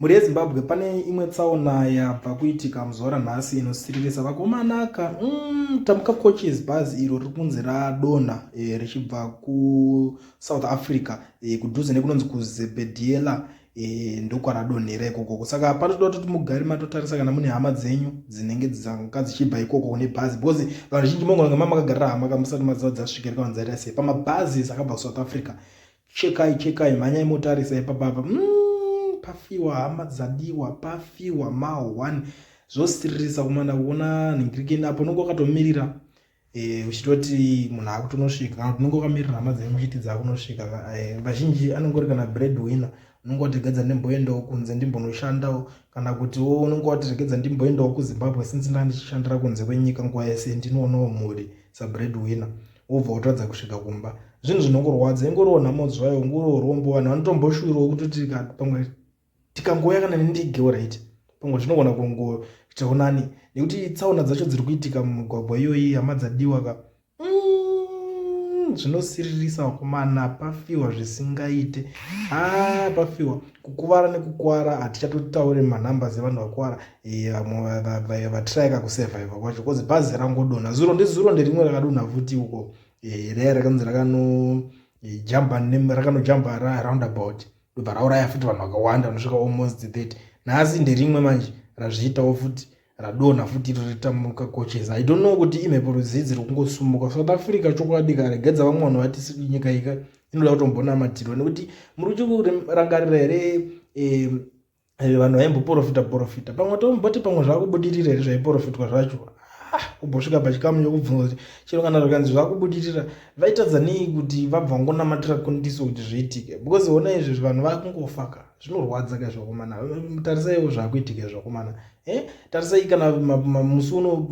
Mhuri yeZimbabwe pane imwe tsaona yabva kuitika muzuva ranhasi inosiririsa vakomanaka mm, tamuka coaches bhazi iro riri kunzi radonha e, richibva kusouth africa e, kudhuze nekunonzi kuzebediela e, eh, ndokwaradonhera ikokoko saka panotoda kutoti mugari matotarisa kana mune hama dzenyu dzinenge dzanga dzichibva ikokoko nebhazi because vanhu zhinji mongonanga mamakagarira hama kamusati maziva dzasvika rikavanzarira sei pamabhazi sakabva kusouth africa Chekai chekai mhanyai motarisa ipapa apa mm, pafiwa hama dzadiwa pafiwa ma one zvosiririsa kumana kuona nhingirikeni apo unenge wakatomirira eh, uchitoti munhu akutonosvika kana kuti unenge wakamirira hama dzenyu muchiti dzakunosvika eh, vazhinji anenge uri kana bread winner unenge watiregedza ndimboendawo kunze ndimbonoshandawo kana kutiwo unenge watiregedza ndimboendawo kuzimbabwe since ndaa ndichishandira kunze kwenyika nguva yese ndinoonawo mhuri sabread winner wobva wotadza kusvika kumba zvinhu zvinongorwadza ingoriwo nhamo zvayo ungoriwo rombo vanhu vanotomboshuwirawo kutoti pamwe tikangouya kana nendigewo right pamwe zvinogona kungoitawo nani nekuti tsaona dzacho dziri kuitika mumigwagwa iyoyi hama dzadiwa ka mm, zvinosiririsa vakomana pafiwa zvisingaite a ah, pafiwa kukuvara nekukuvara hatichatotaure manumbers evanhu vakuvara Eh, vamwe vatirayika kusurviva kwacho bcause bhazi rangodonha zuro ndizuro nderimwe rakadonha futi uko eh, raya rakanzi rakanojamba eh, rakanojamba roundabout ndobva rauraya futi vanhu vakawanda vanosvika almost that nhasi nderimwe manje razviitawo futi radonha futi iro ritamuka coaches i don't know kuti imhepo rudzidzi rokungosumuka south africa chokwadi karegedza vamwe vanhu vati nyika ika inoda kutombonamatirwa nekuti muri uchirangarira here eh, vanhu vaimboporofita porofita pamwe tomboti pamwe zvakubudirira here zvaiporofitwa zvacho ah, kubosvika pachikamu chokubvunza kuti chero kana zvikanzi zvakubudirira vaitadza nei kuti vabva ngonamatura kundiso kuti zviitike because ona izvezvi vanhu vakungofaka zvinorwadza ka zvakomana tarisaiwo zvakuitika zvakomana eh, tarisai kana musi uno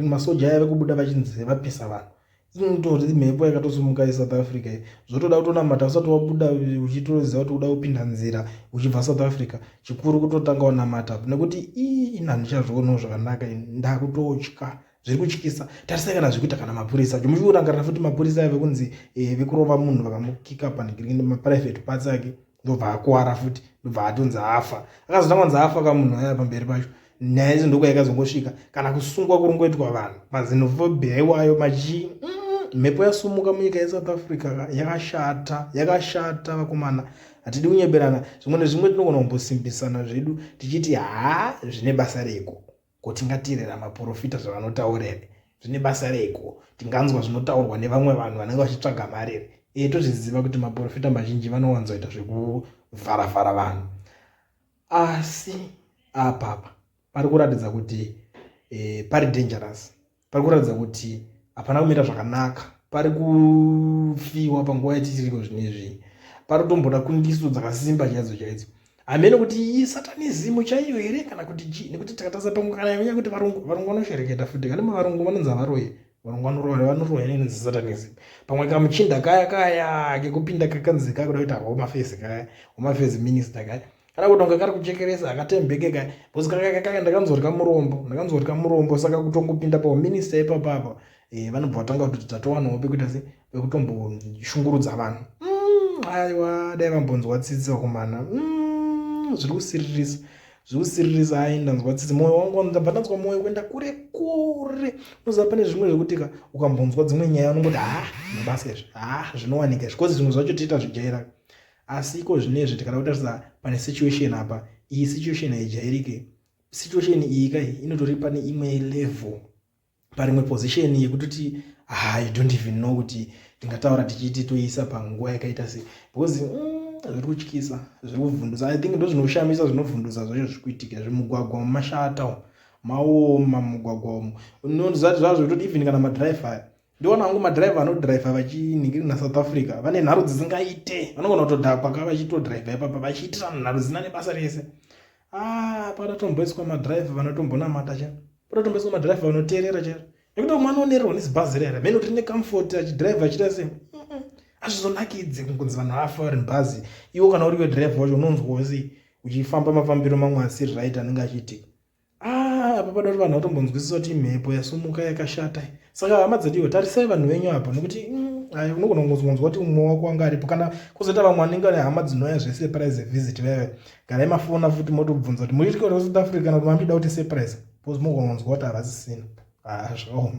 masoja aya vekubuda vachinzi vapisa vanhu inotori mhepo yakatosimuka yesouth africa iyi zvotoda kutonamata usati wabuda uchitoziva kuti uda kupinda nzira uchibva south africa chikuru kutotanga wanamata nekuti ii ini handichazvionawo zvakanaka ndakutotya zviri kutyisa tarisai kana zviri kuita kana mapurisa jomuchiurangarira futi mapurisa ave kunzi eh, vekurova munhu vakamukika panhigiriki nemaprivate parts ake ndobva akuwara futi ndobva atonzi afa akazotanga kunzi afa ka munhu aya pamberi pacho nyaya idzo ndokuya ikazongosvika kana kusungwa kuri ngoitwa vanhu mazinofobia iwayo machii mm, mhepo mm, yasumuka munyika yesouth africa yakashata yakashata vakomana hatidi kunyeberana zvimwe nezvimwe tinogona kumbosimbisana zvedu tichiti haa zvine basa reko Ko tingateerera maporofita zvavanotaura here? Zvine basa reiko? Tinganzwa zvinotaurwa nevamwe vanhu vanenge vachitsvaga mari here? Ee, tozviziva kuti maporofita mazhinji vanowanzoita zvekuvharavhara vanhu. Asi apapa pari kuratidza kuti e, pari dangerous pari kuratidza kuti hapana kumira zvakanaka pari kufiwa panguva yatitiriko zvinezvi pari kutomboda kundiso dzakasimba chaidzo chaidzo hameno kuti iyi satanizimu chaiyo here kana kuti chii nekuti takatarisa pamwe kana yanyanya kuti varungu varungu vanoshereketa futi kana mavarungu vanonzi havaroye varungu vanoroya vanoroya neinonzi satanizimu pamwe kamuchinda kaya kaya kekupinda kakanzi kakuda kuita hwomafezi kaya hwomafezi minista kaya kana kuti unga kari kuchekeresa akatembeke ka bcause kakakaka ndakanzorya murombo ndakanzorya murombo saka kutongopinda pauminista ipapa apa eh, vanobva vatanga kuti tatowanawo pekuita se pekutomboshungurudza vanhu mm, aiwa dai vambonzwa tsitsi vakomana mm, zviri kusiririsa zviri kusiririsa ai ndanzwa tsitsi mwoyo wangu ndabva ndanzwa mwoyo kuenda kure kure unoziva pane zvimwe zvekuti ka ukambonzwa dzimwe nyaya unongoti ha mabasa izvi ha zvinowanika izvi bcause zvimwe zvacho tiita zvijairaka asi iko zvinezvi tikada kutarisa pane situation apa iyi situation haijairike situation iyi kai inotori pane imwe level parimwe position yekutoti ah, i don't even know kuti tingataura tichiti toisa panguva yakaita sei because mm, zviri kutyisa zviri kuvhundusa i think ndo zvinoshamisa zvinovhundusa zvacho zviri kuitika zvimugwagwa mumashata maoma mumugwagwa umu unoziva zvazvo kutoti even kana madrive aya ndiona hangu madriver anodriver vachiningiri nasouth africa vane nharo dzisingaite vanogona kutodhakwa ka vachitodriver ipapa vachiitira nharo dzina nebasa rese a ah, padatomboiswa madriver vanotombonamata cha padatomboiswa madriver vanoteerera chero nekuti umwe anoonererwa nezibhazi rere mheno tine comfort achidriver achita se azvizonakidze kunzi vanhu afa vari mubhazi iwo kana uriwe driver wacho unonzwa wese uchifamba mafambiro mamwe asiri right anenge achiitika Ah, apa pada kuti vanhu vatombonzwisisa kuti imhepo yasumuka yakashata saka hama dzadiwa tarisai vanhu venyu apa nokuti mm, ai unogona kungonzwa kuti umwe wako wanga aripo kana kuzoita vamwe vanenge vane hama dzinouya zvesurprise visit veve garai mafona futi motobvunza kuti muitike kuti south africa kana kuti mamida kuti surprise bcause mogona kunzwa kuti havasisina ah, zvakaoma